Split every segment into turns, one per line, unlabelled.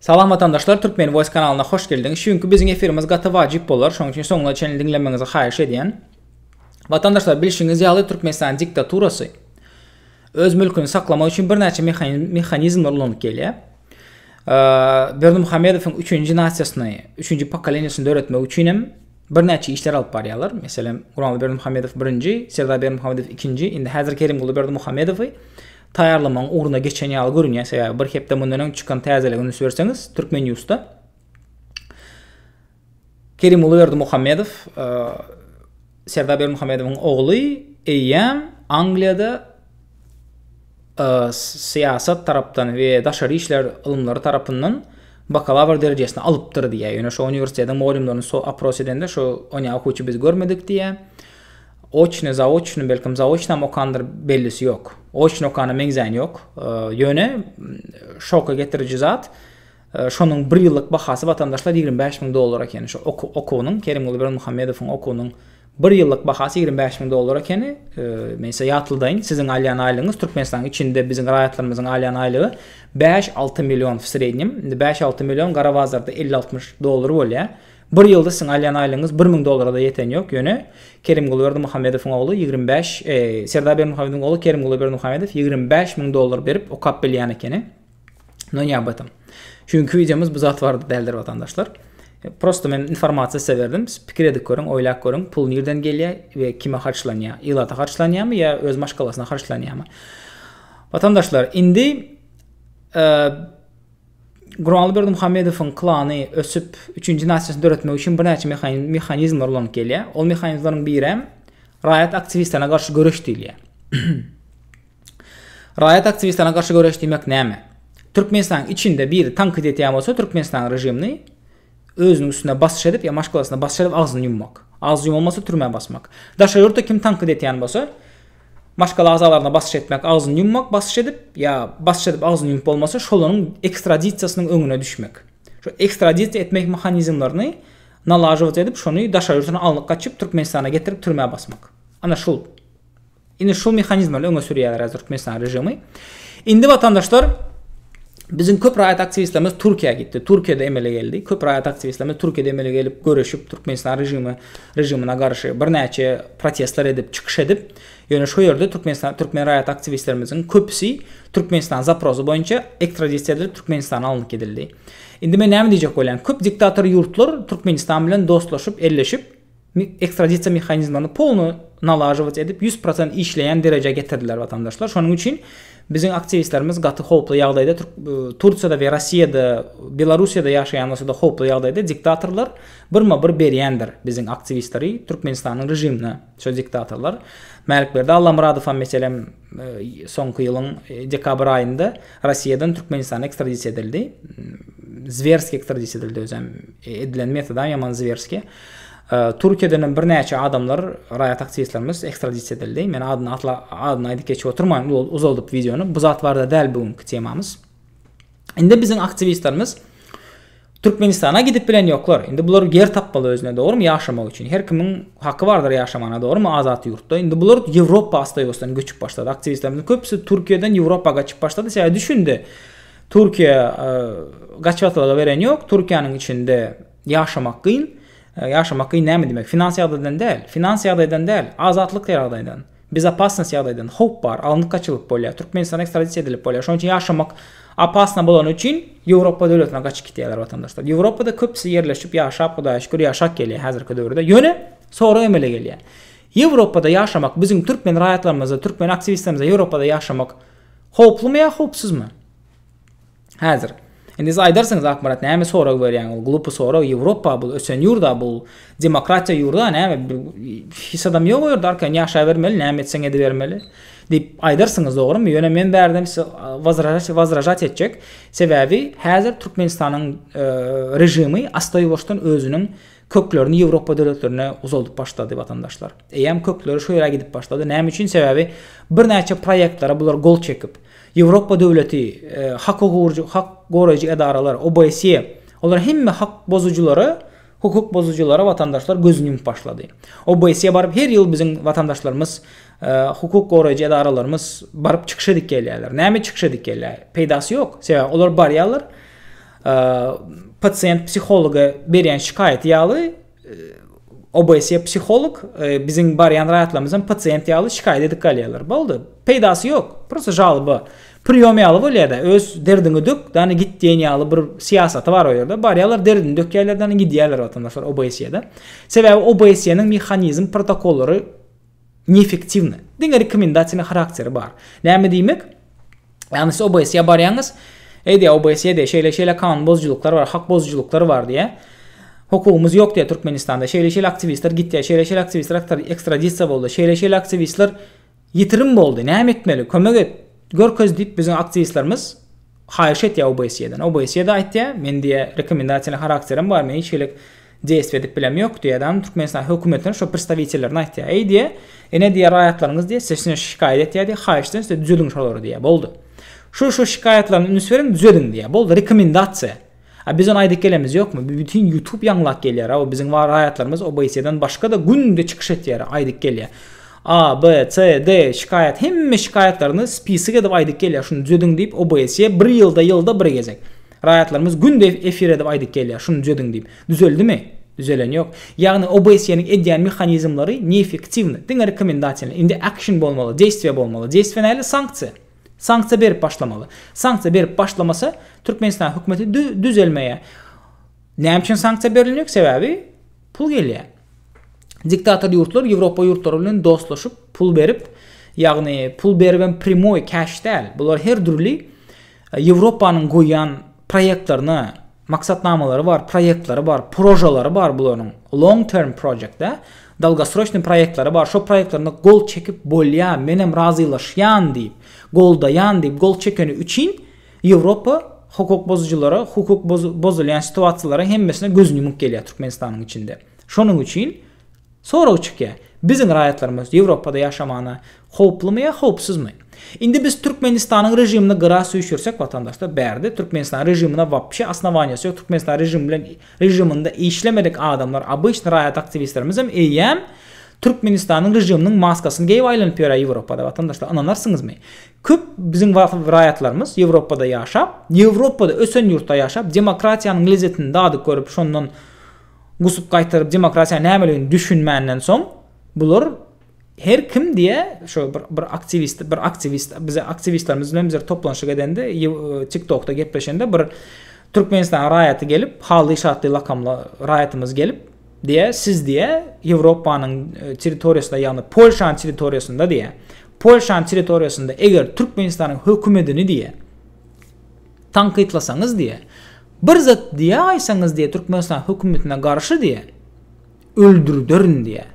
Salam watandaşlar Türkmen voice kanalyna hoş geldiňiz şu günki biziň efirimiz gaty wajyp bolar şoň üçin soňuna çenli diňlemegiňizi haýyş edýän Watandaşlar bilşiňiz ýaly Türkmenistanyň diktaturasy öz mülküni saklamak üçin birnäçe mehanizmler ulanyp gelýär Berdimuhamedowyň üçünji nasiýasyny üçünji pokoleniýasyny döretmek üçin hem birnäçe işler alyp barýarlar meselem Gurbanguly Berdimuhamedow birinji Serdar Berdimuhamedow ikinji indi häzir Kerimguly Berdimuhamedowy taýýarlamagyň ugruna geçen ýaly görünýär, sebäbi bir hepde mundan öň çykan täzelige üns berseňiz, Türkmenýusda Kerimguly Berdimuhamedow, Serdar Berdimuhamedowyň ogly eýýäm Angliýada syýasat tarapdan we daşary işler ylymlary tarapyndan bakalawr derejesini alypdyr diýýär. Ýöne şu uniwersitetiň mugallymlaryny so-opros edende, şu onýa okuwçy biz görmedik diýýär. Oçny, zaoçny, belkem zaoçnam okandyr, bellisi ýok. Oçny okana meňzäýen ýok. Ýöne şoka getiriji zat, şonuň bir ýyllyk bahasy watandaşlar ýigrimi bäş müň dollar ekeni. Şu okuwynyň, Kerimguly Berdimuhamedowyň okuwynyň bir ýyllyk bahasy ýigrimi bäş müň dollar ekeni. Men size ýatladyň, siziň alýan aýlygyňyz Türkmenistanyň içinde biziň raýatlarymyzyň alýan aýlygy bäş-alty million w srednýem. Indi bäş-alty million gara bazarda elli-altmyş dollar bolýar. Bir ýylda siziň alýan aýlygyňyz bir müň dollara-da ýeten ýok, ýöne Kerimguly Berdimuhamedowyň ogly ýigrimi bäş, Serdar Berdimuhamedowyň ogly Kerimguly Berdimuhamedow ýigrimi bäş müň dollar berip okap bilýän ekeni. No ne об этом. Şu günki wideomyz bu zat barada däldir watandaşlar. Prosto men informasiýa size berdim. Siz pikir edip görüň, oýlap görüň, pul nirden gelýär we kime harçlanýar? Ilata harçlanýarmy ýa öz maşgalasyna harçlanýarmy? Watandaşlar, indi Gurbanguly Berdimuhamedowyň klany ösüp, üçünji nasyýasyny döretmek üçin birnäçe mehanizmler ulanyp gelýär. Ol mehanizmleriň birem raýat aktiwistlerine garşy göreş diýilýär. Raýat aktiwistlerine garşy göreş diýmek näme? Türkmenistanyň içinde biri tankyt etýän bolsa Türkmenistanyň režimini, Özüniň üstüne basyş edip ýa maşgalasyna basyş edip agzyny ýummak. Agzy ýumalmasa türmä basmak. Daşary ýurtda kim tankyt etýän bolsa, maşgala agzalaryna basyş etmek, agzyny ýummak, basyş edip ýa basyş edip agzyny ýumup bolmasa şolaryň ekstradisiýasynyň öňüne düşmek. Şu ekstradisiýa etmek mehanizmlerini nalajywać edip şony daşary ýurtuna alnyp gaçyp Türkmenistana getirip türmä basmak. Ana şul. Indi şu mehanizmleri öňe sürýärler häzir Türkmenistan režimi. Indi watandaşlar Biziň köp raýat aktiwistlerimiz Türkiýä gitdi. Türkiýede emele geldi. Köp raýat aktiwistlerimiz Türkiýede emele gelip göreşip Türkmenistan režimi režimine garşy birnäçe protestler edip, çykyş edip, ýöne şu ýerde Türkmenistan türkmen raýat aktiwistlerimiziň köpüsi Türkmenistan zaprosy boýunça ekstradisiýa edilip Türkmenistana alnyp gidildi. Indi men näme diýjek bolýan? Köp diktator ýurtlar Türkmenistan bilen dostlaşyp, elleşip, ekstradisiýa mehanizmlerini polno nalažować edip ýüz prosent işleýän derejä getirdiler watandaşlar şonuň üçin biziň aktiwistlerimiz gaty howply ýagdaýda tursiýada we rossiýada belarussiýada ýaşaýan bolsada howply ýagdaýda diktatorlar birma bir berýändir biziň aktiwistleri türkmenistanyň režimine şo diktatorlar mälikberdi allamyradowam meselem soňky ýylyň dekabr aýynda rossiýadan türkmenistana ekstradisiýa edildi zwerski ekstradisiýa edildi özem edilen metodam ýaman zwerski Türkiýeden hem birnäçe adamlar, raýat aktiwistlerimiz ekstradisiýa edildi. Men adyny atla, adyny aýdyp geçip oturman uzaldyp wideony. Bu zat barada däl bu günki temamyz. Indi biziň aktiwistlerimiz Türkmenistana gidip bilen ýoklar. Indi bular ýer tapmaly özüne, dogrumy? Ýaşamak üçin. Her kimiň haky bardyr ýaşamana, dogrumy? Azat ýurtda. Indi bular Ýewropa astaýwasdan göçüp başlady. Aktiwistlerimiziň köpüsi Türkiýeden Ýewropa gaçyp başlady. Sebäbi düşündi. Türkiýe gaçybatalga beren ýok. Türkiýäniň içinde Ýaşamak gyn. Ýaşamak gyn näme diýmek? Finans ýagdaýdan däl. Finans ýagdaýdan däl. Azatlyk ýagdaýdan. Bezopasnost ýagdaýdan. Howp bar. Alnyp gaçylyp bolýar. Türkmenistana ekstradisiýa edilip bolýar. Şonuň üçin ýaşamak opasno bolany üçin Ýewropa döwletine gaçyp gitýärler watandaşlar. Ýewropada köpüsi ýerleşip ýaşap Hudaýa şükür ýaşap gelýär häzirki döwürde. Ýöne sorag emele gelýär. Ýewropada ýaşamak biziň türkmen raýatlarymyza, türkmen aktiwistlerimize Ýewropada ýaşamak howplumy ýa howpsuzmy? Häzir Indi siz aýdarsyňyz Akmarat näme sorag berýäň ol glupy sorag Ýewropa bul ösen ýurda bul demokratiýa ýurda näme hiç adam ýok o ýerde arkaýyn ýaşaýbermeli näme etseň edibermeli diýip aýdarsyňyz dogrymy ýöne men bärden size wazražat etjek sebäbi häzir Türkmenistanyň režimi asta ýuwaşdan özüniň Köklerini Ýewropa döwletlerine uzaldyp başlady watandaşlar. Eýýäm kökleri şu ýere gidip başlady. Näme üçin? Sebäbi birnäçe proýektlere bular gol çekip, Ýewropa döwleti, hak guruwjy, hak goraýjy edaralar, OBSE, olar hemme hak bozujylara, hukuk bozujylara watandaşlar gözüni ýumup başlady. OBSE baryp her ýyl biziň watandaşlarymyz, hukuk goraýjy edaralarymyz baryp çykyş edip gelýärler. Näme çykyş edip gelýär? Peýdasy ýok. Sebäbi olar barýarlar, Pasient psihologa berýän şikaýaty ýaly OBS psiholog biziň barýan raýatlarymyzdan pasient ýaly şikaýat edip galýarlar. Boldy. Peýdasy ýok. Prosta žalba. Priýom ýaly bolýar-da, öz derdiňi dök, dana git diýen ýaly bir syýasaty bar o ýerde. Barýarlar, derdini dökýärler, dana gidýärler watandaşlar OBS-de. Sebäbi OBS-niň mehanizm protokollary Neefektiwny. Diňe rekomendasiýny harakteri bar. Näme diýmek? Ýagny siz OBS-ýa barýaňyz. Eýde OBS-ýa diýe şeýle şeýle kanun bozujylyklar bar, hak bozujylyklar bar diýe. Hukugymyz ýok diýe Türkmenistanda. Şeýle şeýle aktiwistler gitýä, şeýle şeýle aktiwistler ekstradisiýa boldy, şeýle şeýle aktiwistler ýitirim boldy. Näme etmeli? Kömek et. Görkez diýip biziň aktiwistlerimiz haýyş etýä OBS-ýadan. OBS-ýa-da aýtýa, men diýe rekomendasiýny harakterim bar, men hiç hili Desp edip bilem ýok diýýä adam Türkmenistan hökümetine şo pristawitellerine aýtýar. Eý diýýä, ine diýýä raýatlaryňyz diýýä size şinä şikaýat etýär diýýä, haýyşdan size düzediň şolary diýýä, boldy. Şu şu şikaýatlaryny üns beriň düzediň diýýä, boldy rekomendasiýa. A biz ony aýdyp gelemiz ýokmy? Bu bütin ýutub ýaňlap gelýär, o biziň bar raýatlarymyz OBSE-den başga-da günde çykyş etýär, aýdyp gelýär. A, B, C, D şikaýat hemme şikaýatlaryny spisik edip aýdyp gelýär, şuny düzediň diýip OBSE bir ýylda ýylda bir gezek. Raýatlarymyz gündeýiz efir edip aýdyp gelýär, şuny düzediň diýip. Düzeldimi? Düzelen ýok. Ýagny OBSE-niň edýän mehanizmleri neefektiwny. Diňe rekomendasiýalar. Indi action bolmaly, deýstwe bolmaly. Deýstwe nähili? Sanksiýa. Sanksiýa berip başlamaly. Sanksiýa berip başlamasa, Türkmenistanyň hökümeti düzelmeýär. Näme üçin sanksiýa berilmejek? Sebäbi Pul gelýär. Diktator ýurtlar Ýewropa ýurtlary bilen dostlaşyp, pul berip, ýagny pul beribem primoý käş däl, bular her dürli Ýewropanyň goýýan proýektlerine, maksatnamalary bar, proýektleri bar, prožalary bar bularyň, long term project dä, dalgosroçnyý proýektleri bar, şo proýektlerine gol çekip bolýar, menem razylaşýan diýip, goldaýan diýip gol çekeni üçin, Ýewropa hukuk bozujylara, hukuk bozulýan situasiýalara hemmesine gözüni ýumup gelýär Türkmenistanyň içinde. Şonuň üçin sorag çykýar, biziň raýatlarymyz Ýewropada ýaşamana howplumy ýa howpsuzmy? Indi biz Türkmenistanyň režimini gyra süýşürsek watandaşlar bärde Türkmenistanyň režimine wapşe osnowaniýasy ýok, Türkmenistanyň režimi bilen režiminde işlemedik adamlar obyçny raýat aktiwistlerimizem eýýäm Türkmenistanyň režiminiň maskasyny geýip aýlanyp ýörä Ýewropada watandaşlar ynanarsyňyzmy? Köp biziň wagtymyz raýatlarymyz Ýewropada ýaşap, Ýewropada ösen ýurtda ýaşap, demokratiýanyň lezzetini dadyp görüp, şondan gusup gaýtaryp, demokratiýa nämeligini düşünmänden soň, bular her kim diýe, şo bir bir aktiwist, bir aktiwist bize aktiwistlerimiz bilen bizler toplanşyk edende, TikTokda gepleşende bir Türkmenistanyň raýaty gelip, Hally-şatly lakamly raýatymyz gelip, Diýä, siz diýä, Ýewropanyň territoriýasynda, ýagny Polşanyň territoriýasynda diýä, Polşanyň territoriýasynda eger Türkmenistanyň hökümetini diýä, tankytlasaňyz diýä, bir zat diýä aýsaňyz diýä Türkmenistanyň hökümetine garşy diýä, öldürderin diýä.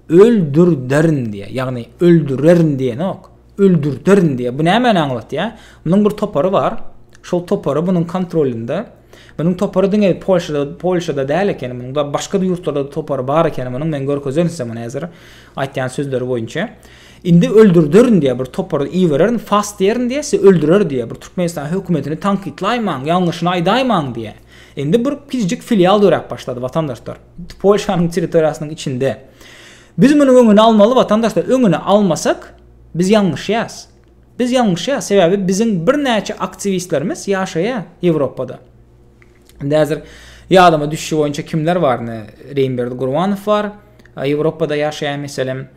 Öldürderin diýä, ýagny öldürerin diýenok. öldürderin diýýär. Bu nämäni aňlatýar? Munuň bir topary bar. Şol topary munuň kontrolinde. Munuň topary diňe Polşada, Polşada däl ekeni, munuň da başga ýurtlarda topary bar ekeni munuň. Men görkezerin size muny häzir aýtýan sözleri boýunça. Indi öldürderin diýýär, bir topary ibererin, fas diýerin diýýär, sizi öldürer diýýär. Bir Türkmenistan hökümetini tankytlaýmaň, ýalňyşyny aýdaýmaň diýýär. Indi bir kiçijik filial döräp başlady watandaşlar. Polşanyň territoriýasynyň içinde. Biz munuň öňüni almaly watandaşlar öňüni almasak biz ýalňyşýas. Biz ýalňyşýas sebäbi biziň birnäçe aktiwistlerimiz ýaşaýa Ýewropada. Indi häzir ýadyma düşşi boýunça kimler bar ine Reýmberdi Gurbanow bar Ýewropada ýaşaýan meselem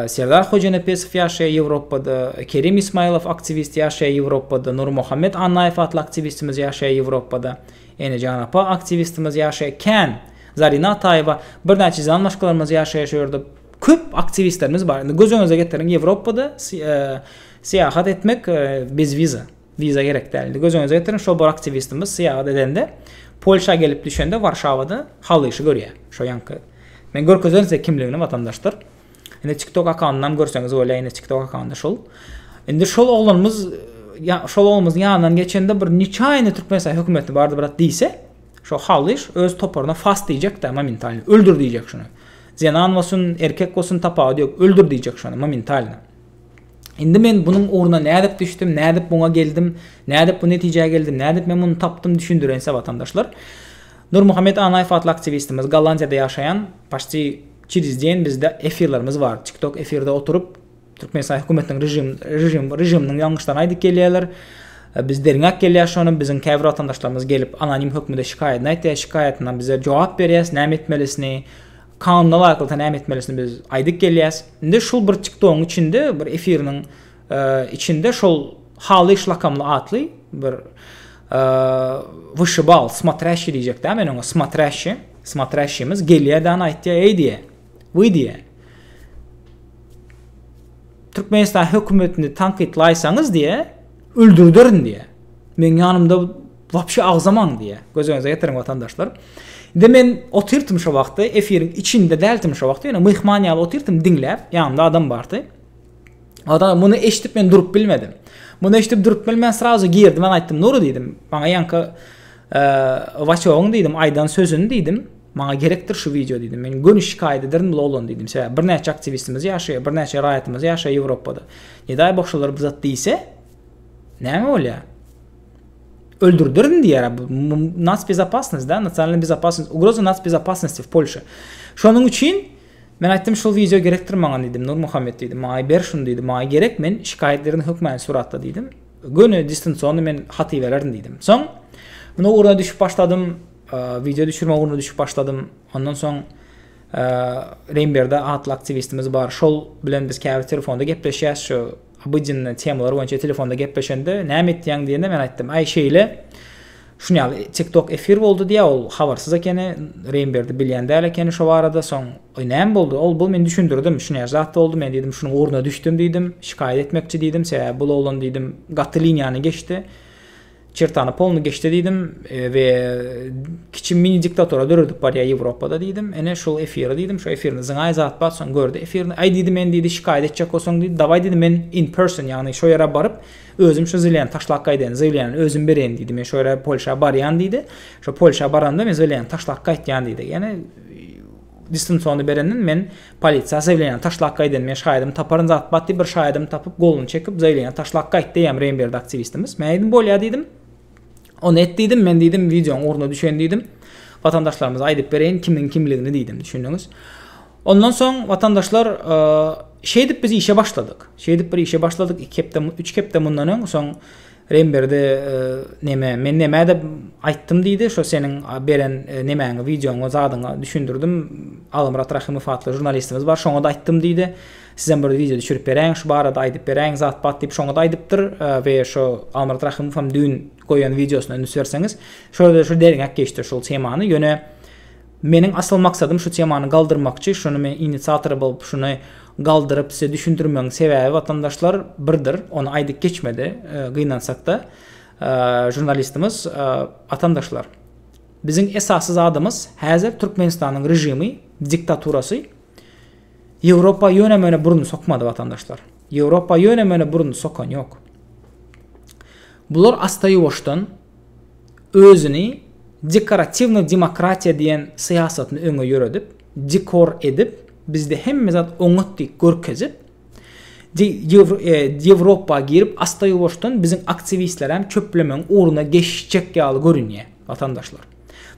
Serdar Hojanepesow ýaşaýa Ýewropada Kerim Ismaýlow aktiwist ýaşaýa Ýewropada Nurmuhammet Annaýew atly aktiwistimiz ýaşaýa Ýewropada Enejan apa aktiwistimiz ýaşaýa kän Zarina Ataýewa birnäçe jan başgalarymyz ýaşaýa şu ýerde köp aktiwistlerimiz bar indi göz öňüňize getiriň Ýewropada syýahat etmek bez wiza wiza gerek däl indi göz öňüňize getiriň şo bir aktiwistimiz syýahat edende Polşa gelip düşende Warşawada halyşy görýär şo ýaňky men görkezerin size kimligini watandaşdyr. Indi TikTok akkauntyndan görseňiz bolýar, indi TikTok akkaunty şul. Indi şol oglanymyz ya, şol oglanymyz ýanyndan geçende bir niçaýny Türkmenistan hökümeti bardy brat diýse, şo halyş öz toparyna fast diýjek-de momentalno, öldür diýjek şuny. Zenan bolsun, erkek bolsun tapawudy ýok, öldür diýjek şuny momentalno. Indi men bunuň ugruna nädip düşdüm, nädip buňa geldim, nädip bu netijä geldim, nädip men muny tapdym düşündirense watandaşlar. Nurmuhammet Anaýew atly aktiwistimiz Gollandiýada ýaşaýan, paşti Çiriz diýen bizde efirlerimiz bar. Tiktok efirde oturyp Türkmenistan hökümetiniň režim režim režiminiň ýalňyşlaryny aýdyp gelýärler. Biz derňäp gelýäs şony. Biziň käbir watandaşlarymyz gelip anonim hökmünde şikaýatyny aýtýar. Şikaýatyna bize jogap berýäs näme etmelisini, kanuna laýyklykda näme etmelisini biz aýdyp gelýäs. Indi şul bir Tiktogyň içinde bir efiriniň Içinde şol Halyş lakamly atly bir wyşybal, smatryaşşi diýjek dä, men oňa smatryaşşi, smatryaşşimiz gelýär däni aýtýar, eý diýe, wy diýe. Türkmenistan hökümetini tankytlaýsaňyz diýe, öldürderin diýe. Men ýanymda wapşe agzamaň diýe. Göz öňüňize getiriň watandaşlar. Indi men otyrtym şo wagtda, efiriň içinde däldim şo wagtda, ýöne myhman ýaly otyrtym diňläp, ýanymda adam bardy. Oda muny eşidip men durup bilmedim. Muny eşidip durup bilmän srazu girdim ben aýtdym Nuru diýdim. Maňa ýanka e, Waçogyň diýdim aýdan sözüni diýdim. Maňa gerekdir şu wideo diýdim. Men göni şikaýat ederdim bu oglan diýdim. Sebäbi birnäçe aktiwistimiz ýaşaýar, birnäçe raýatymyz ýaşaýar Ýewropada. Nedaý boşalar bu zat diýse, näme bolýar? öldürdirin diýär bu nas bezopasnost da nasionalna bezopasnost ugroza nas bezopasnosti w polşa şonuň üçin Men aýtdym şul wideo gerekdir maňa diýdim Nurmuhammet diýdim maňa ber şuny diýdim maňa gerek men şikaýat ederin hökmany suratda diýdim göni distansionny men hat ibererin diýdim soň men o ugruna düşüp başladym wideo düşürme ugruna düşüp başladym ondan soň Reýnberde atly aktiwistimiz bar şol bilen biz käbir telefonda gepleşýäs şu obydennä temalar boýunça telefonda gepleşende näme etýäň diýende men aýtdym aý şeýle Şuny ýaly TikTok efir boldy diýýär ol habarsyz ekeni Reýnberdi bilýän däl ekeni şo barada soň oý näme boldy ol bu men düşündirdim şuny ýaly zat boldy men diýdim şunuň ugruna düşdüm diýdim şikaýat etmekçi diýdim sebäbi bul oglan diýdim gaty liniýany geçdi çertany polny geçdi diýdim we kiçi mini diktatura döredip barýar Ýewropada diýdim ene şul efiri diýdim şo efirinde zyňaý zat bar soň gördi efirini aý diýdi men diýdi şikaýat etjek bolsaň diýdi dawaý diýdi men in person ýagny şo ýere baryp Özüm şu zilýany taşlap gaýdaýyn, zilýany özüm bereýin diýdi. Men şu ýere Polşa barýan diýdi. Şu Polşa baranda men zilýany taşlap gaýtýan diýdi. Ýani distansony berenden men polisiýa zilýany taşlap gaýdaýyn. Men şaýadymy taparyn zat bat diýip bir şaýadymy tapyp goluny çekip zilýany taşlap gaýt diýýän reýnberdi aktiwistimiz. Men aýdym bolýa diýdim. Ony et diýdim, men diýdim wideoň ugruna düşen diýdim. Watandaşlarymyza aýdyp bereýin kimiň kimligini diýdim, düşündiňiz. Ondan soň watandaşlar e, şeýdip biz işe başladyk. Şeýdip bir işe başladyk 2 hepde 3 hepde mundan öň soň Remberdi e, neme men neme dep aýtdym diýdi. Şo seniň beren e, nemäňi wideoňa zadyňa düşündirdim. Agymrat Rahymow atly žurnalistimiz bar, şoňa da aýtdym diýdi. Sizem bir wideo düşürip beräýiň şu barada aýdyp beräýiň zat bat diýip şoňada aýdypdyr we şo Almyrat Rahymow hem düýn goýan wideosyna üns berseňiz şoda şu derňäp geçdi şol temany ýöne meniň asyl maksadym şu temany galdyrmakçy şuny men inisiatory bolup şuny galdyryp size düşündirmegiň sebäbi watandaşlar birdir ony aýdyp geçmedi gynansakda žurnalistimiz watandaşlar biziň esasy zadymyz häzir Türkmenistanyň režimi diktaturasy Ýewropa ýöne-möne burun sokmady, watandaşlar. Ýewropa ýöne-möne burun sokan ýok. Bular asta-ýuwaşdan özüni dekoratiwnyý demokratiýa diýen syýasatyny öňe ýöredip, dekor edip, bizde hemme zat oňat diýip görkezip, Ýewropa girip, asta-ýuwaşdan biziň aktiwistlerem çöplemegiň ugruna geçjek ýaly görünýär, watandaşlar.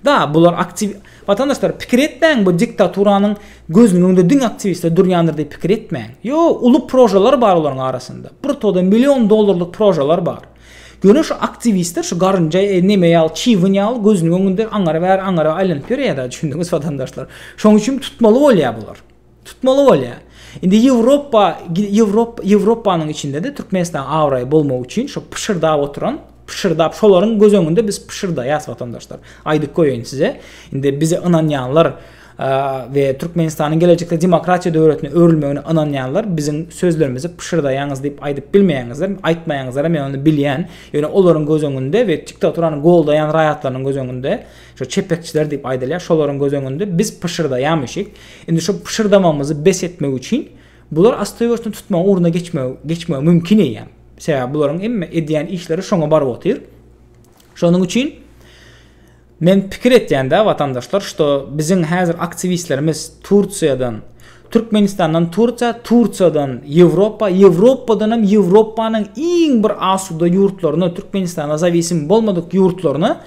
Da bular aktiw Watandaşlar pikir etmäň bu diktaturanyň gözüniň öňünde diňe aktiwistler durýandyr diýip pikir etmäň. Ýo uly prožalar bar olaryň arasynda. Bir toda million dollarlyk prožalar bar. Ýöne şu aktiwistler şu garynja e, neme ýaly çýwyn ýaly gözüniň öňünde aňary bäri aňary aýlanyp ýörýär da düşündiňiz Watandaşlar. Şoň üçin tutmaly bolýar bular. Tutmaly bolýar. Indi Ýewropa, Ýewropa, Ýewropanyň içinde-de Türkmenistanyň abraýy bolmagy üçin şo pyşyrdap oturan, pyşyrdap şolaryň göz öňünde biz pyşyrdaýas watandaşlar. Aýdyp goýaýyn size. Indi bize ynanýanlar we Türkmenistanyň gelejekde demokratiýa döwletine öwrülmegine ynanýanlar biziň sözlerimizi pyşyrdaýaňyz diýip aýdyp bilmeýäňizler, aýtmaýaňyzlar men ony bilýän. Ýöne olaryň göz öňünde we diktaturany goldaýan raýatlarynyň göz öňünde, şo çepekçiler diýip aýdylýar, şolaryň göz öňünde biz pyşyrdaýamyşyk. Indi şu pyşyrdamagymyzy bes etmek üçin bular astaýuwaçdan tutmagyň ugruna geçmegi geçmegi mümkin eýýäm. Sebäbi bularyň hemme edýän işleri şoňa baryp otyr. Şonuň üçin men pikir etýän-de watandaşlar, şto biziň häzir aktiwistlerimiz Tursiýadan, Türkmenistandan Tursiýa, Tursiýadan Ýewropa, Ýewropadan hem Ýewropanyň iň bir asuda ýurtlaryna, Türkmenistana zawisim bolmadyk ýurtlaryna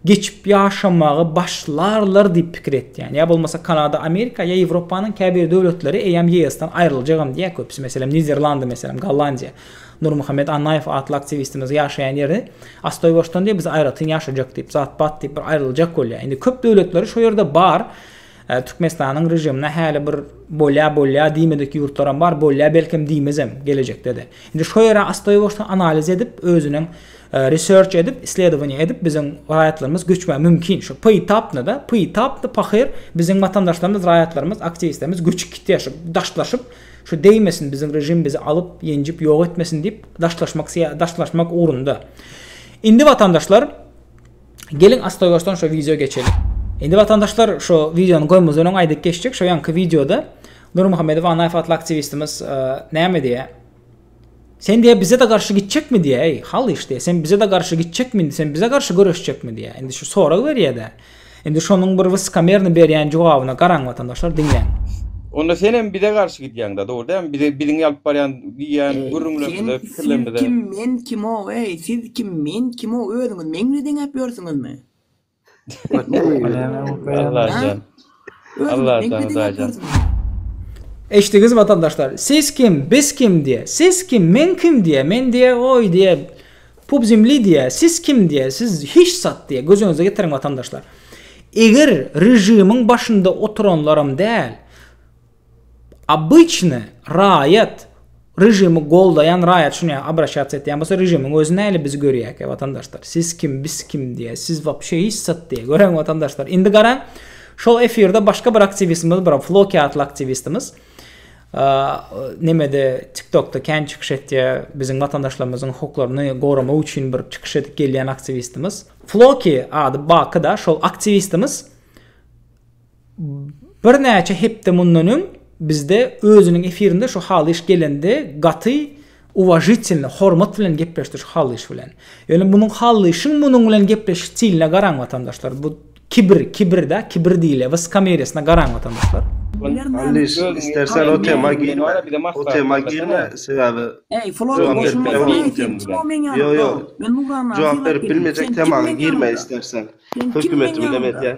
geçip ýaşamaga başlarlar diýip pikir etýän. Ýa bolmasa Kanada, Amerika ýa Ýewropanyň käbir döwletleri eýýäm YS-dan aýryljagam diýýär köpüsi. Meselem, Niderlandy, meselem, Gollandiýa. Nurmuhammet Annaýew atly aktiwistimiz ýaşaýan ýeri Astoýbaşdan diýip biz aýratyn ýaşajak diýip, zat-pat diýip bir aýryljak bolýar. Indi köp döwletleri şo ýerde bar. Türkmenistanyň režimine häli bir bolýa bolýa diýmedik ýurtlaram bar, bolýa belkem diýmezem gelejekdede. Indi şo ýere astoýbaşdan analiz edip özüniň research edip isledowaniýa edip biziň raýatlarymyz göçmä mümkin şo poýtapnada poýtapny pahyr biziň watandaşlarymyz raýatlarymyz aktiwistlerimiz göçüp gitýä şo daşlaşyp şo deýmesin biziň režim bizi alyp ýenjip ýok etmesin diýip daşlaşmak daşlaşmak ugrunda indi watandaşlar Geliň astoýbaşdan şo wideo geçeliň. Indi watandaşlar şo wideony goýmazdan öň aýdyp geçjek şo ýanky wideoda Nurmuhammedow Anaýew atly aktiwistimiz e, näme diýýär? Sen diýýär bize-de garşy gitjekmi diýýär, eý hal iş diýýär, sen bize-de garşy gitjekmi indi, sen bize garşy göreşjekmi diýýär. Indi şu sorag berýär-de. Indi şonuň bir wyskamerny berýän jogabyna garaň watandaşlar diňläň. Onda senem bize garşy gidýäňda, dogry dälmi? Bize biziň alyp barýan diýýän gürrüňlerimize. Sen kim men kimo eý siz kim men kimo özüňiz meňli deňäp ýörsüňizmi. Allajan Allajan Allajan. Eşdiňiz watandaşlar siz kim biz kim diýe siz kim men kim diýe men diýe oý diýe pub zemli diýe siz kim diýe siz hiç zat diýe göz öňüňize getiriň watandaşlar eger režimiň başynda oturanlaram däl Обычny raýat režimi goldaýan raýat şuny ýa abraşatsiýa etýän bolsa režimiň özi näle bizi görýäkä watandaşlar siz kim biz kim diýä siz wapşe hiç zat diýä göräň watandaşlar indi garaň şol efirde başga bir aktiwistimiz bir floki atly aktiwistimiz nemede tiktokda kän çykyş etýä biziň watandaşlarymyzyň hukuklaryny goramak üçin bir çykyş edip gelýän aktiwistimiz floki ady baky da şol aktiwistimiz Birnäçe hepde mundan öň bizde özüniň efirinde şu Halyş gelende gaty uwažitelno, hormat bilen gepleşdi şu Halyş bilen. Ýöne munuň Halyşyň munuň bilen gepleşiş stiline garaň watandaşlar. Bu kibir, kibir da, kibir diýilýä, wyskameriýasyna garaň watandaşlar. Halyş istersen o tema girme, o tema girme sebäbi jogap berip bilemok bu tema. Ýok ýok jogap berip bilmejek temaga girme istersen. Hökümeti bilen edýän.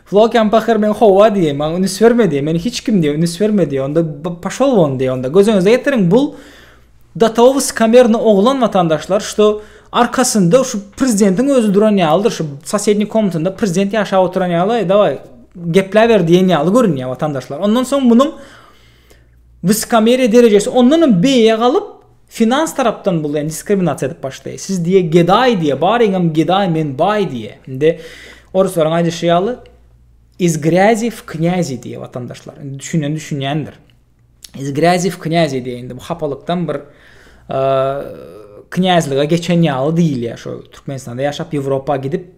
Flokian pahyr men howwa diýýär, maňa ünüs berme diýýär, meni hiç kim diýýär, ünüs berme diýýär, onda paşol won diýýär, onda göz öňüňize getiriň, bul data wyskamernýy oglan watandaşlar, şto arkasynda şu prezidentiň özi duran ýalydyr, şu sosednýi komnatynda prezident ýaşap oturan ýaly, aý daway gepläber diýen ýaly görünýär watandaşlar, ondan soň munuň wyskameriýa derejesi ondanam beýe galyp, Finans tarapdan bul ýa diskriminasiýa edip başlaýy siz diýe gedaý diýe baryňam gedaý men baý diýe indi oruslaryň aýdyşy ýaly iz grýazi w knýazi diýe watandaşlar indi düşünen düşünýändir iz grýazi w knýazi diýe indi bu hapalykdan bir knýazlyga geçen ýaly diýilýä şo türkmenistanda ýaşap ýewropa gidip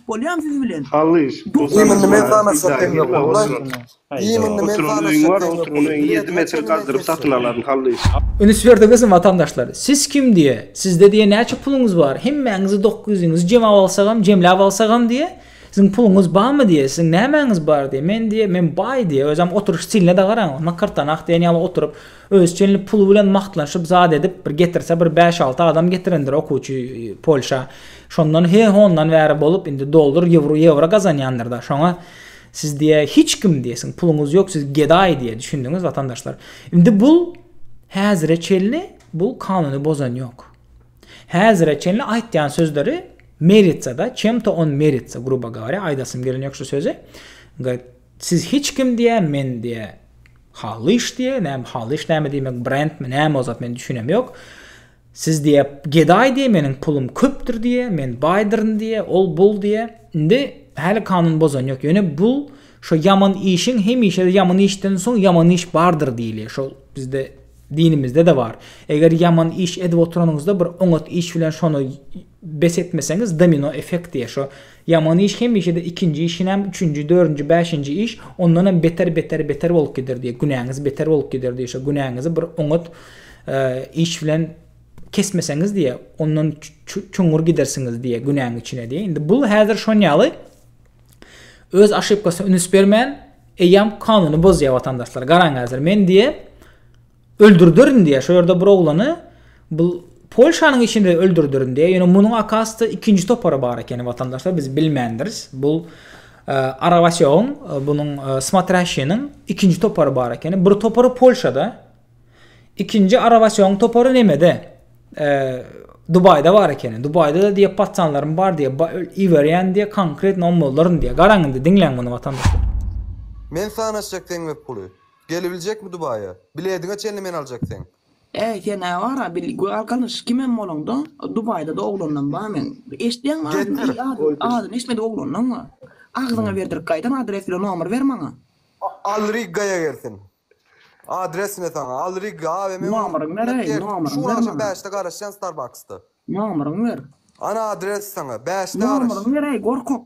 Bolýam siz bilen. Halys, bu Iýmindi men sanaşyp hem ýok wallay. Iýmindi men sanaşyp hem ýok wallay. Bir ýedi metr gazdyryp satyn alaryn Halys. Ünüs berdiňizmi watandaşlar? Siz kim diýe? Sizde diýe näçe puluňyz bar? Hemmäňizi dokuz ýüzüňizi jemap alsagam, jemläp alsagam diýe? Siziň puluňyz barmy diýe? Siziň nämäňiz bar diýe? Men diýe, men baý diýe. Özem oturyş stiline-de garaň. Nakyrtanak diýen ýaly oturyp. Özi çenli puly bilen magtlanşyp zat edip bir getirse bir bäş alty adam getirendir okuwçy polşa şondan he hondan bäri bolup indi doldur ýewro ýewro gazanýandyrda şoňa siz diýe hiç kim diýe siziň puluňyz ýok siz gedaý diýe düşündiňiz watandaşlar indi bul häzire çenli bul kanuny bozan ýok häzire çenli aýtýan sözleri meritsada çemto on merits gruba gawari aýdasym gelen ýok şu sözi Siz hiç kim diýä men diýä Hallyş diýä näme Hallyş näme diýmek brend mi näme o zat men düşünem ýok Siz diýä gedaý diýä meniň pulum köpdür diýä men baýdyryn diýä ol bul diýä indi häli kanun bozan ýok ýöne bul şo ýaman işiň hemişe ýaman işden soň ýaman iş bardyr diýilýä şol bizde dinimizde-de bar eger ýaman iş edip oturanyňyzda bir oňat iş bilen şony Bes etmeseňiz domino effekt diýer şo ýaman iş hemişede ikinji iş inem üçünji dördünji bäşinji iş ondanam beter beter beter bolup gider diýer günäňiz beter bolup gider diýer şo günäňizi bir oňat iş bilen kesmeseňiz diýer ondan çuňňur gidersiňiz diýer günäň içine diýer indi bul häzir şonýaly öz aşypkasyna ünüs bermän eýýam kanuny bozýar watandaşlar garaň häzir men diýer Öldürderin diýýär. Şo ýerde bir oglany bul Polşanyň içinde öldürderin diýýär. Ýöne munuň akasda ikinji topary bar ekeni watandaşlar biz bilmändiris. Bul Arabasýogyň bunuň smatraşiniň ikinji topary bar ekeni. Bir topary Polşada. Ikinji Arabasýogyň topary nemede? Dubaýda bar ekeni. Dubaýda-da diýýär patsanlarym bar diýýär. Iberýän diýýär konkretno ommallaryn diýýär. Garaň indi diňläň muny watandaşlar. Men sanaşjak seňle puly. Gelibiljekmi Dubaýa? Bilediňe çenli men aljak seň. Äý sen-ä wara bil galkanyş kimem bolaňda Dubaýda-da oglandan bar meň. Eşitýäňmi adyny Getir. iý adyny eşitmedik oglandan bar. Agzyňa berdirik gaýtam adres bilen nomer ber maňa. Al Riggaýa gelsin. Adres ne saňa al Rigga abi men oňa Nomeryňy ber äý nomeryňy şu gün ber agşam maňa. bäşde garaşýan Starbucksda. Nomeryňy ber. Ana adres saňa bäşde garaş. Nomeryňy ber äý gorkak.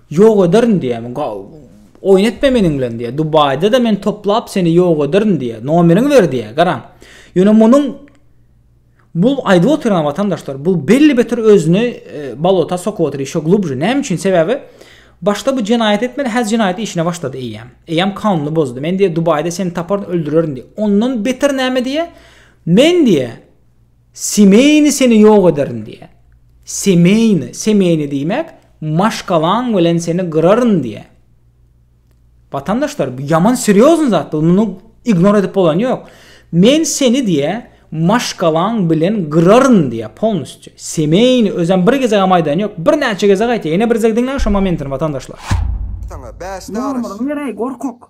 Ýok ederin diýýämi ga oýun etme meniň bilen diýýä dubaýda-da men toplap seni ýok ederin diýýä nomeriňi ber diýýä garaň ýöne munuň bu aýdyp otyran watandaşlar bu belli beter özüni balota sokup otyr ýeşo glubže näme üçin sebäbi başda bu jenaýat etmedi häzir jenaýat işine başlady eýýäm eýýäm kanuny bozdy men diýýä dubaýda seni taparyn öldürerin diýýä ondan beter näme diýýä men diýýä Semeýni seni ýok ederin diýýär. Semeýni, semeýni diýmek, maşgalaň bilen seni gyraryn diýýär. Watandaşlar, bu ýaman serýozny zat, bu muny ignor edip bolany ýok. Men seni diýýär, maşgalaň bilen gyraryn diýýär, polnusçy. Semeýni özem bir gezegem aýdany ýok, birnäçe gezek aýtýar. Ýene bir gezek diňläň şo momentini, watandaşlar. Saňa bäş daryş. Nurmyryň ýereý gorkak.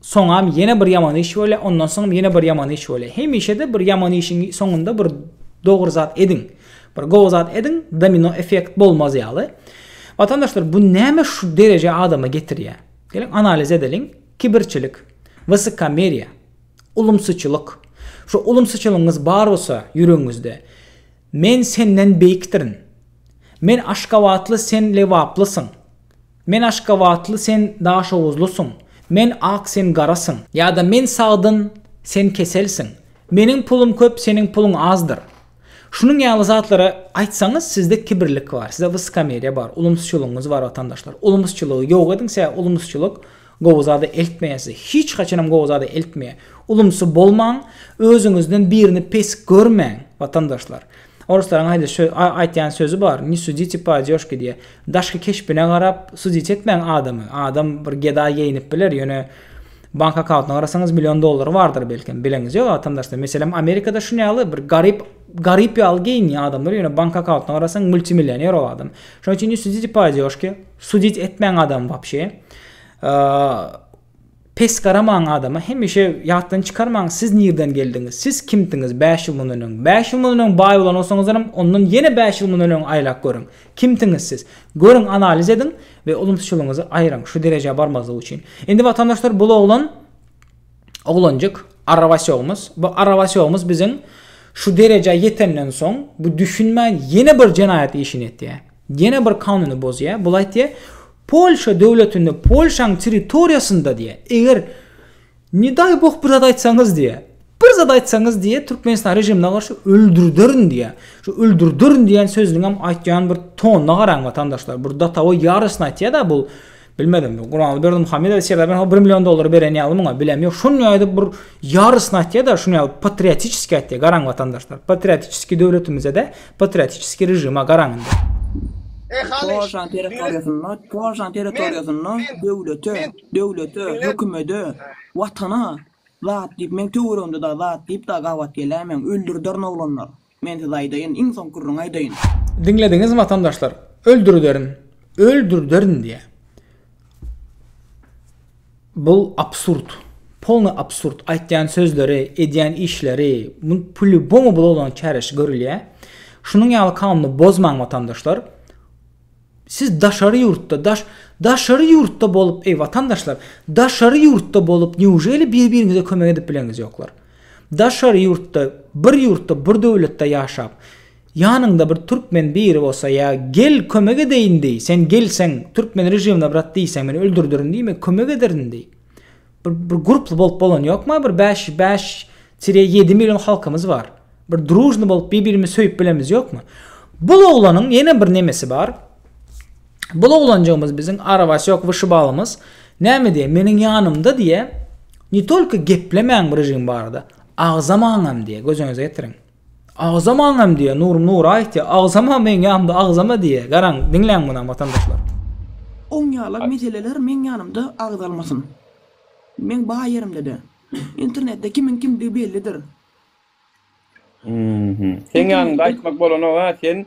Soňam ýene bir ýaman iş bolýar, ondan soňam ýene bir ýaman iş bolýar. Hemişe-de bir ýaman işiň soňunda bir dogry zat ediň. Bir gowy zat ediň, domino effekt bolmaz ýaly. Watandaşlar, bu näme şu derejä adamy getirýär? Geliň analiz edeliň. Kibirçilik, wysokkomeriýa, ulumsyçylyk. Şu ulumsyçylygyňyz bar bolsa ýüregiňizde, Men senden beýikdirin. Men aşgabatly, sen lebaplysyň. Men aşgabatly sen daşoguzlysyň, men ak sen garasyň. Ýa-da men sagdyn, sen keselsiň, meniň pulum köp, seniň puluň azdyr. Şunuň ýaly zatlary aýtsaňyz sizde kibirlik bar, sizde wyskomeriýa bar, ulumsyçylygyňyz bar watandaşlar. Ulumsyçylygy ýok ediň sebäbi ulumsyçylyk gowy zada eltmeýär sizi, hiç haçanam gowy zada eltmeýär. Ulumsy bolmaň, özüňizden birini pes görmäň watandaşlar. Oruslaryň aýda şö, a, aýtýan sözi bar, Ne sudite po odёžke diýýär. Daşky keşbine garap sudit etmäň adamy. Adam bir gedaý geýinip biler, ýöne bank akkauntyna garasaňyz million dollary bardyr belkem. Bileňiz ýok watandaşlar. Meselem Amerikada şun ýaly bir garyp garyp ýaly geýinýär adamlar, ýöne bank akkauntyna garasaň multimillioner o adam. Şonuň üçin ne sudite po odёžke, sudit etmäň adamy wapşe. A, Pes garamaň adama, hemişe ýatdan çykarmaň siz nirden geldiňiz, siz kimdiňiz bäş ýyl mundan öň? Bäş ýyl mundan öň baý bolan bolsaňyzlaram, ondan ýene bäş ýyl mundan öňe aýlap görüň. Kimdiňiz siz? Görüň, analiz ediň we ulumsyçylygyňyzy aýryň, şu derejä barmazlyk üçin. Indi watandaşlar bul oglan, oglanjyk, arrabaçogymyz, bu arrabaçogymyz biziň şu derejä ýetenden soň, bu düşünmän ýene bir jenaýat işini etýär. Ýene bir kanuny bozýar. Bul aýtýar, Polşa döwletinde Polşaň territoriýasynda diýýär, eger ne daý boh bir zat aýtsaňyz diýýär, bir zat aýtsaňyz diýýär Türkmenistan režimine garşy öldürderin diýýär. Şu öldürderin diýen sözüniňem aýtýan bir tonyna garaň watandaşlar. Bir datowo ýarysyny aýtýada bul Bilmedim bu Gurbanguly Berdimuhamedow sebäbi men o bir million dollary beren ýaly muňa bilem ýok. Şuny aýdyp bir ýarysyny aýtýar-da, şuny ýaly patriotiçeski aýtýar. Garaň watandaşlar, patriotiçeski döwletimize-de, patriotiçeski režime garaň indi. Polşanyň territoriýasynda, Polşanyň territoriýasynda döwlete, döwlete, hökümede, watana zat diýip meň töweregimde dagy zat diýip dagy gabat geläýmäň, öldürderin oglanlar. Men size aýdaýyn, iň soň gürrüň aýdaýyn. Diňlediňizmi watandaşlar? Öldürderin! Öldürderin! diýýär. Bu absurd. Polny absurd. Aýtýan sözleri, edýän işleri, bu polýubomu bulagyň çäresi görülýär. Şunuň ýaly kanuny bozmaň watandaşlar. Siz daşary ýurtda, daş, daşary ýurtda bolup, eý watandaşlar, daşary ýurtda bolup neujeli bir biriňize kömek edip bileňiz ýoklar? Daşary ýurtda, bir ýurtda, bir döwletde ýaşap, ýanyňda bir türkmen biri bolsa ýa gel kömek edeýin deý, sen gelseň, türkmen režimine brat diýseň, men öldürderin diýme, kömek ederin deý. Bir, bir gruply bolup bolan ýokma, bir 5 5-7 million halkymyz bar. Bir drujny bolup bir-birimizi söýüp bilemiz ýokma. Bu oglanyň ýene bir nemesi bar. Bu oglanjygymyz biziň arabasy ýok wyşybalymyz. Näme diýe? Meniň ýanymda diýe, ne tolko geplemäň bir jigim barada. Agzamaňam diýe, gözüňize getiriň. Agzamaňam diýýä, Nurum Nura aýtýa, agzama meň ýanymda agzama diýýä. Garaň, diňläň muny watandaşlar. Oň ýala meseleler meň ýanymda agzalmasyn. Meň bar ýerimde-de. Internetde kimiň kimdigi bellidir. Seň ýanyňda aýtmak bolanok-a, sen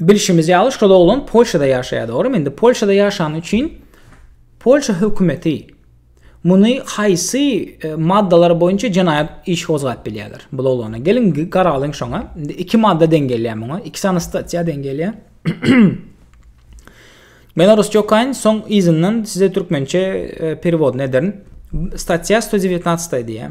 Bilşimiz ýaly, şol oglan Polşada ýaşaýar, dogrumy? Indi Polşada ýaşany üçin Polşa hökümeti muny haýsy e, maddalar boýunça jenaýat işi gozgap bilýärler bu oglana? Geliň garalyň şoňa. Indi iki madda deň gelýär muňa. Iki sany statiýa deň gelýär. Men orusça okaýyn, soň yzyndan size türkmençe e, perewodny ederin. Statiýa 119 diýýär.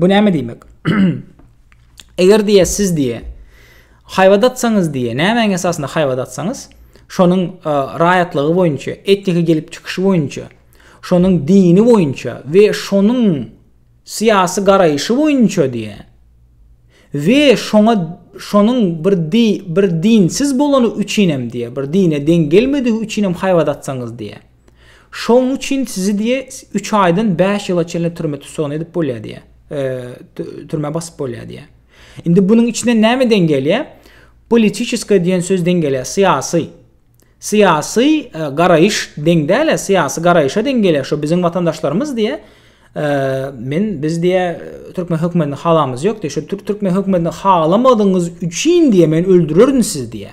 Bu näme diýmek? Eger diýe siz diýe haýbat atsaňyz diýe, nämäň esasynda haýbat atsaňyz, şonuň e, raýatlygy boýunça, etniki gelip çykyşy boýunça, şonuň dini boýunça we şonuň syýasy garaýşy boýunça diýe. We şoňa şonuň bir di, bir dinsiz bolany üçin hem diýe, bir dine deň gelmedigi üçin hem haýbat atsaňyz diýe. Şoň üçin sizi diýe üç aýdan bäş ýyla çenli türme tussagna edip bolýar diýe. Türmä basyp bolýar diýe. Indi bunuň içine näme deň gelýär? Politiçeskiý diýen söz deň gelýär, syýasy. Syýasy garaýyş deň däl, syýasy garaýyşa deň gelýär. Şo biziň watandaşlarymyz diýe. Men biz diýe türkmen hökümetini halamyz ýok diýe. Şo türkmen hökümetini halamadyňyz üçin diýe men öldürerin sizi diýe.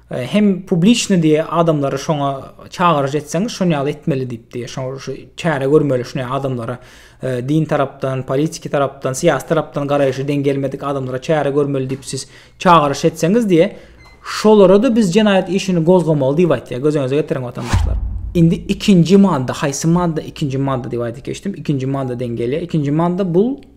E, hem publiçny diye adamlary şoňa çagyryş etseňiz şony ýaly etmeli diýip diye şo şu çäre görmeli şuny adamlara e, din tarapdan politiki tarapdan syýasy tarapdan garaýşy deň gelmedik adamlara çäre görmeli diýip siz çagyryş etseňiz diye şolara da biz jenaýat işini gozgamaly diýip aýtýar göz öňüňize getiriň watandaşlar indi ikinji madda haýsy madda ikinji madda diýip aýdyp geçdim ikinji madda deň gelýär ikinji madda bul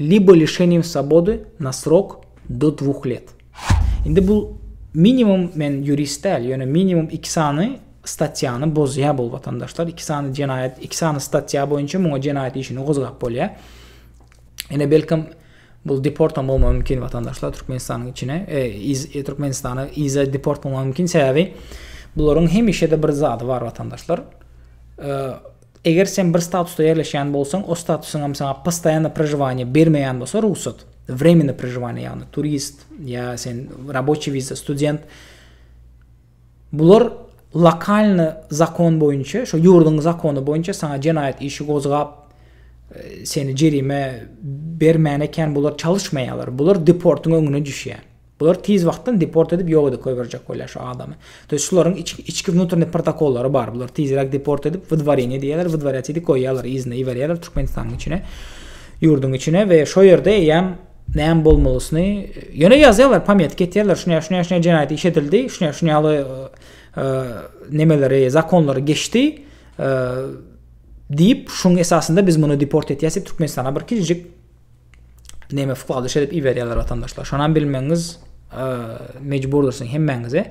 Libo lişeniýem swobody na srok do dwuh let. Indi bu minimum men ýurist däl, ýöne minimum iki sany statýany bozýar bu watandaşlar. Iki sany jenaýat, iki sany statýa boýunça muňa jenaýat işini gozgap bolýar. Ine belkem bu deport hem bolmagy mümkin watandaşlar Türkmenistanyň içine, e, iz, e, Türkmenistana iza deport bolmagy mümkin sebäbi bularyň hemişe-de bir zady bar watandaşlar. E, Eger sen bir statusda ýerleşýän bolsaň, o statusyňam saňa postoýannoý prožiwaniýe bermeýän bolsa, rugsat, wremennoý prožiwaniýe, ýagny turist ýa sen raboçiý wiza, student, bular lokalnyý zakon boýunça, şo ýurduň zakony boýunça saňa jenaýat işi gozgap, e, seni jerime bermän eken bular çalyşmaýarlar. Bular deportyň öňüne düşýär. Bular tiz wagtdan deport edip ýok edip goýberjek bolýar şu adamy. To ýest şularyň içki wnutrnny protokollary bar. Bular tizräk deport edip wydwareniýe diýýärler, wydwarýat edip goýýarlar, yzyna iberýärler Türkmenistanyň içine, ýurduň içine we şo ýerde eýýäm näme bolmalysyny ýöne ýazýarlar, pometka etýärler, şuny şuny şuny jenaýat iş edildi, şuny şuny ýaly nemeleri, zakonlary geçdi diýip, şuň esasynda biz muny deport etýäs diýip Türkmenistana bir kiçijik Neme fukaly şerip iberýärler watandaşlar. Şonam bilmeňiz e, mecburdyrsyn hemmäňize.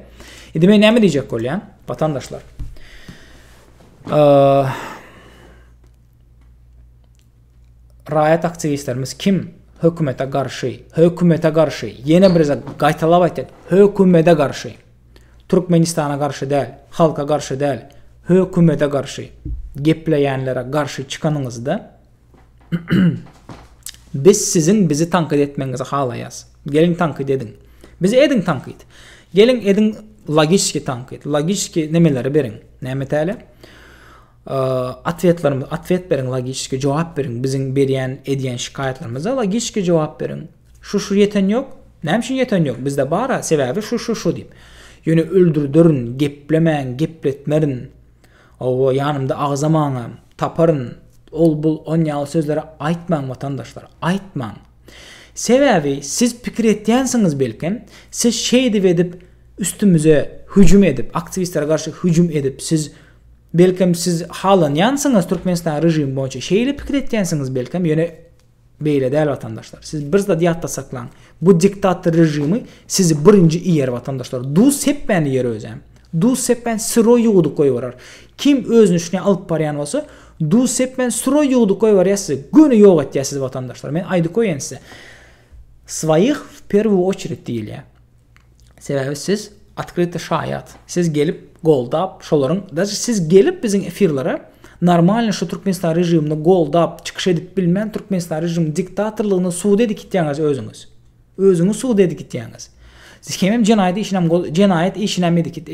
Indi men näme diýjek bolýan watandaşlar? E, raýat aktiwistlerimiz kim? Hökümete garşy, hökümete garşy. Ýene bir zat gaýtalap aýtýan, hökümete garşy. Türkmenistana garşy däl, halka garşy däl, hökümete garşy. Gepleýänlere garşy çykanyňyzda Biz siziň bizi tankyt etmegiňizi halaýas. Geliň tankyt ediň. Bizi ediň tankyt. Geliň ediň logişki tankyt. Logişki nemeleri beriň. Näme täle? Atwetlerimiz, atwet beriň logişki, jogap beriň. Biziň berýän, edýän şikaýatlarymyza logişki jogap beriň. Şu şu ýeten ýok. Näme üçin ýeten ýok? Bizde bar-a, sebäbi şu şu şu diýip. Ýöne öldürderin, geplemäň, gepletmerin. Hawa, ýanymda agzamaňam, taparyn, ol-bul on ýaly sözleri aýtmaň, watandaşlar, aýtmaň! Sebäbi siz pikir etýänsiňiz belkem, siz şeýdip edip üstümize hüjüm edip, aktiwistlere garşy hüjüm edip, siz belkem siz halanýansyňyz Türkmenistanyň režimi boýunça şeýle pikir etýänsiňiz belkem, ýöne Beýle däl watandaşlar. Siz bir zady ýatda saklaň. Bu diktator režimi sizi birinji iýer watandaşlar. Duz sepmän iýer özem. Duz sepmän syroý ýuwudyp goýberer. Kim özüni şuny alyp barýan bolsa, duz sepmän syroý ýuwudyp goýberýär sizi. Göni ýok etýär sizi watandaşlar. Men aýdyp goýaýyn size. Swoýih w perwuu oçered diýilýär. Sebäbi siz otkryty şaýat. Siz gelip goldap şolaryň daşy siz gelip biziň efirlere normalny şu Türkmenistan režimini goldap çykyş edip bilmän Türkmenistan režimini diktatorlygyny suda edip gitýäňiz özüňiz. Özüňiz suda edip gitýäňiz. Siz hemem jenaýat işini hem jenaýat işini hem edip git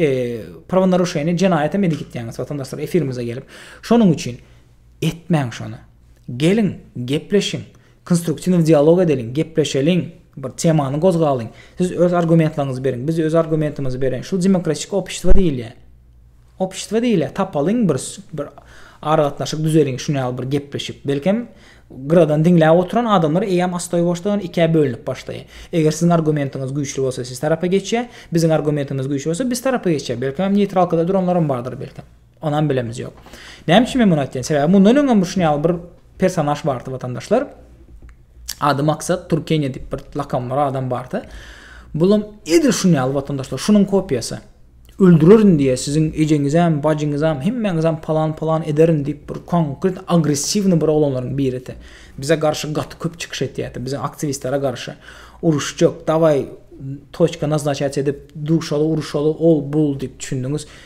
prawnaruşeniýa jenaýat hem edip gitýäňiz watandaşlar efirimize gelip. Şonuň üçin etmäň şony. Geliň gepleşiň. Konstruktiw dialog edeliň, gepleşeliň, bir temany gozgalyň. Siz öz argumentlaryňyzy beriň, biz öz argumentimizi bereýin. Şul demokratik opştwo diýilýär. Opştwo diýilýär. Tapalyň bir bir aragatnaşyk düzeliň, şun ýaly bir gepleşip. Belkem, gyradan diňläp oturan adamlar eýýäm astoýboşdan ikä bölünip başlaýar. Eger siziň argumentiňiz güýçli bolsa siz tarapa geçýär, biziň argumentimiz güýçli bolsa biz tarapa geçýär. Belkem, neýtralkada duranlaram bardyr belkem. Onam bilemiji ýok. Näme üçin men muny aýtýan? Sebäbi mundan öňem bir şuny ýaly bir personaž bardy watandaşlar. Ady Maksat Turkeniýa diýip bir lakam bar adam bardy. Bulam edil şuny ýaly watandaşlar, şunuň kopiýasy. Öldürerin diýe, siziň ejeňizem, bajyňyzam, hemmäňizem palan palan ederin diýip bir konkret agressiwny bir oglanlaryň biridi. Bize garşy gaty köp çykyş etýärdi, bize aktiwistlere garşy. Uruşjak, daway toçka naznaçaç edip, duşaly, uruşaly, ol bul diýip düşündiňiz.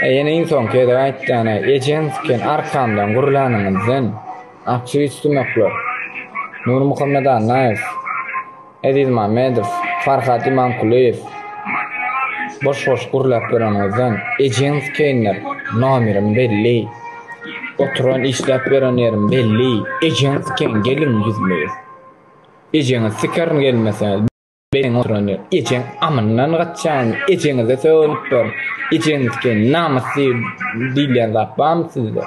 Aý ýene iň soňky gezek aýtýan-a, ejeň tiken arkamdan gürlänimizden, Akja Üstümäkler, Nurmuhammet Annaýew, Eziz Mämmedow, Farhat Imamkulyýew boş-boş gürläp ýörenimizden, ejeň tikeýinler, nomerim belli, oturan işläp ýören ýerim belli, ejeň tikeýin geliň ýüzme-ýüz. Ejeňiz tiker gelmeseňiz. Beýiň oturan ýer. Ejeň amyndan gaçýaňyzmy? Ejeňize sögünip dur. Ejeňizdiki namys diýilýän zat barmy sizde?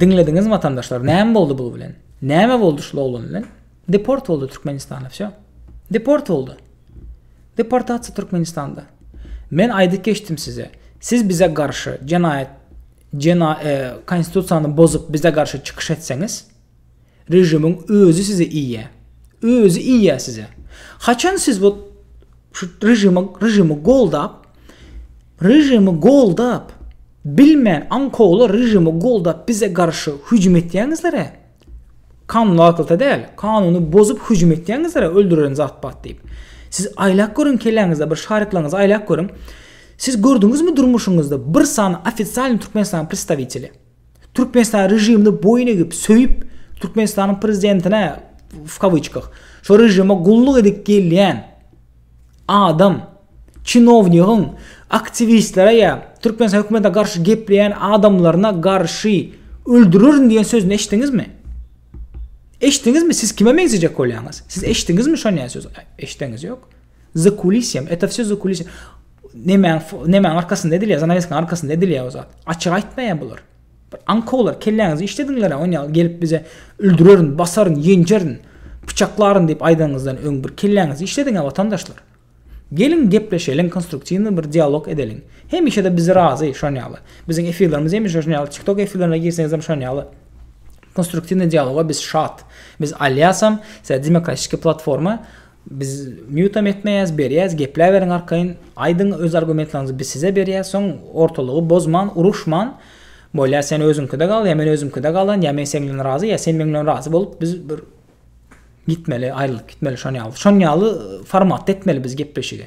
Diňlediňizmi watandaşlar näme boldy bul bilen? Näme boldy şul oglan bilen? Deport boldy Türkmenistana wsýo. Deport boldy. Deportasiýa Türkmenistanda. Men aýdyp geçdim size. Siz bize garşy jenaýat jena e, konstitusiýany bozup bize garşy çykyş etseňiz, Režimiň özi size iýýä. Özi iýýä size. Haçan siz bu şu režimi režimi goldap režimi goldap bilmän aňkowly režimi goldap bize garşy hüjüm etýäňizler-ä? Kanun arkaly däl, kanuny bozup hüjüm etýäňizler-ä öldürerin zatbat diýip. Siz aýlap görüň kelläňizde bir şaryklaryňyzy aýlap görüň. Siz gördüňizmi durmuşyňyzda bir sany ofisialny Türkmenistanyň predstawiteli? Türkmenistan režimini boýun egip, söýüp, Türkmenistanyň prezidentine w kawyçkah, şo režime gulluk edip gelýän adam, çinownigiň aktiwistlere ýa Türkmenistan hökümetine garşy gepleýän adamlaryna garşy öldürerin diýen sözüni eşitdiňizmi? Eşitdiňizmi? Siz kime meňzejek bolýaňyz? Siz eşitdiňizmi şonýa söz? Eşitdiňiz ýok. Za kulisýam, eto wsýo za kulisýam. Nemäň nemäň arkasynda edilýär, zanaweskaň arkasynda edilýär o zat. Açyk aýtmaýar bular. Bir aňkawlar kelläňizi işlediňler on ýaly gelip bize öldürerin, basaryn, ýenjerin, pyçaklaryn diýip aýdanyňyzdan öň bir kelläňizi işlediňä watandaşlar. Geliň gepleşeliň konstruktiwny bir dialog edeliň. Hemişede bizi razy şon ýaly. Biziň efirlerimiz hemişe şon ýaly TikTok efirlerine girseňizem şon ýaly. Konstruktiwny dialoga biz şat. Biz alýasam, size demokratiki platforma Biz mýutam etmeýäs berýäs gepläberiň arkaýyn aýdyň öz argumentlaryňyzy biz size berýäs soň ortalygy bozman uruşman bolýa sen özüňkide gal ýa men özümkide galan ýa men seň bilen razy ýa sen meň bilen razy bolup biz bir gitmeli aýrylyp gitmeli şonýaly şonýaly formatda etmeli biz gepleşigi.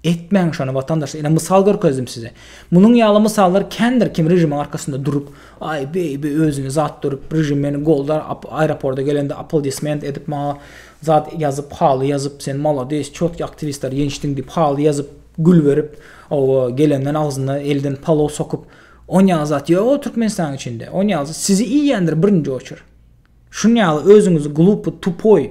Etmäň şony watandaşlar ine mysal görkezdim size. Munuň ýaly mysallar kändir kim režimiň arkasynda durup aý beý beý özüne zat durup režim meni goldar aeroporda gelende aplodisment edip maňa zat ýazyp haly ýazyp sen malades çotky aktiwistler ýeňişdiň diýip haly ýazyp gül berip owo gelenden agzyna elden palow sokup onýaly zat ýok o türkmenistanyň içinde onýaly sizi iýýändir birinji oçer Şun ýaly özüňizi glupy, tupoý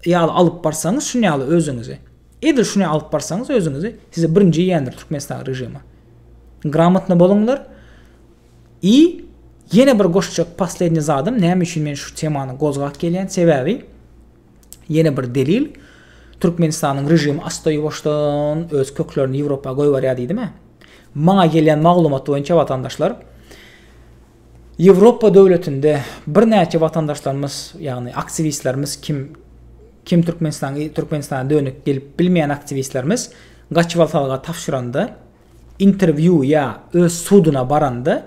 ýaly alyp barsaňyz şun ýaly özüňizi. Edil şun ýaly alyp barsaňyz özüňizi sizi birinji iýendir Türkmenistan režimi. Gramotny boluňlar. I ýene bir goşjak poslednýe zadym näme üçin men şu temany gozgap gelýän sebäbi ýene bir delil Türkmenistanyň režimi asta ýuwaşdan öz köklerini Ýewropa goýberýär diýdim-ä. Maňa gelýän maglumat boýunça watandaşlar Ýewropa döwletinde birnäçe watandaşlarymyz, ýagny aktiwistlerimiz kim kim Türkmenistan Türkmenistana dönük gelip bilmeýän aktiwistlerimiz gaçybaltalyga tabşyranda, interwýu ýa öz suduna baranda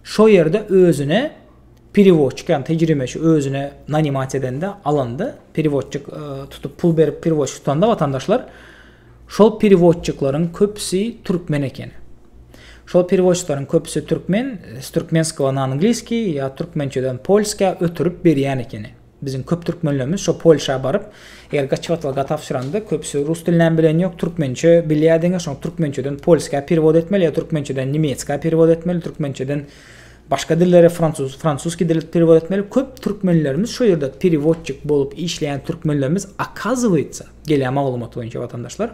şo ýerde özüne perewodçik ýagny tejribeçi özüne nanimasiýa edende alanda perewodçik tutup pul berip perewodçik tutanda watandaşlar Şol perewodçikleriň köpüsi türkmen eken. Şol perewodçikleriň köpüsi türkmen, s türkmenskogo na angliskiý ýa türkmençeden polskä ötürip berýän ekeni. Biziň köp türkmenlerimiz şo Polşa baryp, eger gaçybatlyga tabşyranda, köpüsi rus dilinem bilen ýok, türkmençe bilýär diňe, şoň türkmençeden polskä perewod etmeli ýa türkmençeden nemetskä perewod etmeli, türkmençeden başga dillere, fransuz fransuskiý dile perewod etmeli. Köp türkmenlerimiz şo ýerde perewodçik bolup işleýän türkmenlerimiz, okazowaýtsa, Gelýän maglumat boýunça watandaşlar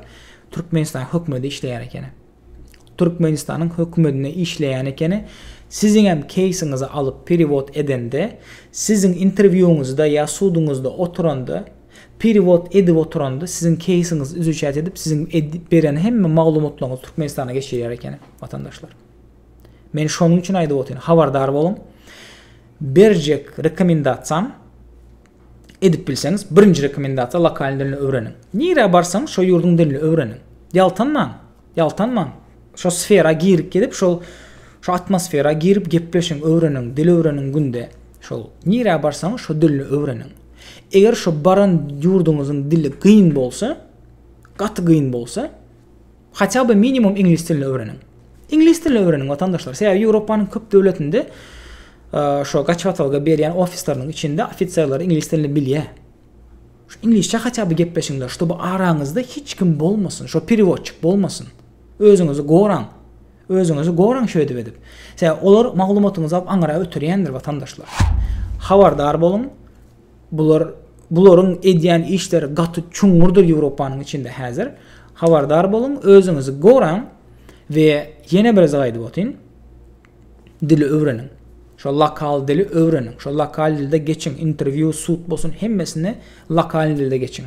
Türkmenistan hökümeti işleýär ekeni. Türkmenistanyň hökümetine işleýän ekeni. Siziň hem keýsiňizi alyp perewod edende, siziň interwýuňyzda ýa suduňyzda oturanda, perewod edip oturanda siziň keýsiňizi izuçat edip, siziň beren hemme maglumatlaryňyzy Türkmenistana geçirýär ekeni watandaşlar. Men şonuň üçin aýdyp otyryn, habardar boluň. Berjek rekomendasiýam edip bilseňiz birinji rekomendasiýa lokalny dilini öwreniň nirä barsaň şo ýurduň dilini öwreniň ýaltanmaň ýaltanmaň şo sfera girip gidip şol şo atmosfera girip gepleşiň öwreniň dil öwreniň günde şol nirä barsaň şo dilini öwreniň eger şo baran ýurduňyzyň dili gyn bolsa gaty gyn bolsa Haça by minimum iňlis dilini öwreniň. Iňlis dilini öwreniň watandaşlar. Sebäbi Ýewropanyň köp döwletinde şo gaçybatalga berýän ofisleriniň içinde ofiserler iňlis dilini bilýär. Şu iňlisçe haça by gepleşiňler, ştoby araňyzda hiç kim bolmasyn, şo perewodçik bolmasyn. Özüňizi goraň. Özüňizi goraň şöýdip edip. Sebäbi olar maglumatyňyzy alyp aňyra ötürýändir watandaşlar. Habardar boluň. Bular bularyň edýän işleri gaty çuňňurdyr Ýewropanyň içinde häzir. Habardar boluň, özüňizi goraň we ýene bir zat aýdyp otyn. Dili öwreniň. Şo lokal dili öwreniň. Şo lokal dilde geçiň. Interwýu, sud bolsun hemmesini lokal dilde geçiň.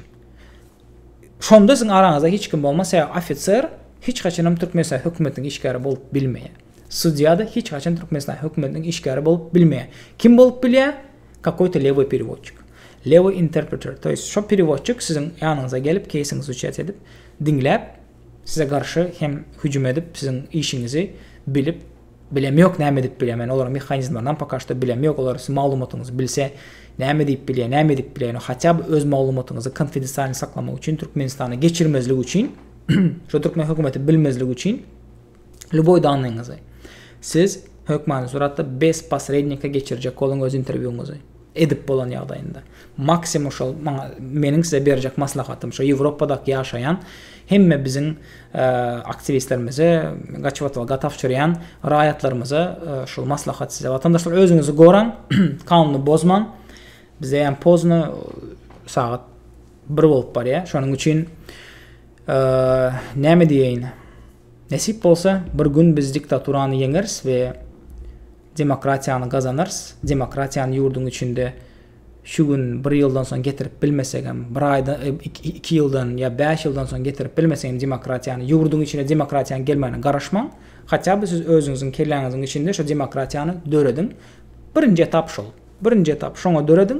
Şonda siziň araňyzda hiç kim bolmaz, sebäbi ofiser hiç haçanam Türkmenistanyň hökümetiniň işgäri bolup bilmeýär. Sudýa-da hiç haçan Türkmenistanyň hökümetiniň işgäri bolup bilmeýär. Kim bolup bilýär? Kakoýto lewoý perewodçik. Lewoý interpreter, to ýest, şo perewodçik siziň ýanyňyza gelip, keýsiňizi uçet edip, diňläp, size garşy hem hüjüm edip, siziň işiňizi bilip, Bilem ýok näme edip bilýä men olaryň mehanizmlerinam poka şto bilem ýok olar siziň maglumatyňyzy bilse näme diýip bilýä näme edip bilýä ýöne haçab öz maglumatyňyzy konfidensialny saklamak üçin türkmenistana geçirmezlik üçin şo türkmen hökümeti bilmezlik üçin lýuboý danyňyzy siz hökmany suratda bez posrednika geçirjek boluň öz interwýuňyzy. edip bolan ýagdaýynda maksimum şol maňa meniň size berjek maslahatym şo ýewropadaky ýaşaýan hemme biziň aktiwistlerimize gaçyp otga tabşyrýan raýatlarymyza şol maslahat size watandaşlar özüňizi goraň kanuny bozmaň bize ýan pozno sagat bir bolup barýa şonuň üçin näme diýeýin Nesip bolsa bir gün biz diktaturany ýeňeris we demokratiýany gazanarys, demokratiýany ýurduň içinde şu gün bir ýyldan soň getirip bilmesegem bir aýda iki ýyldan ýa bäş ýyldan soň getirip bilmesegem demokratiýany ýurduň içine demokratiýanyň gelmegine garaşmaň hatýa by siz özüňiziň kelläňiziň içinde şu demokratiýany dörediň birinji etap şol birinji etap şoňa dörediň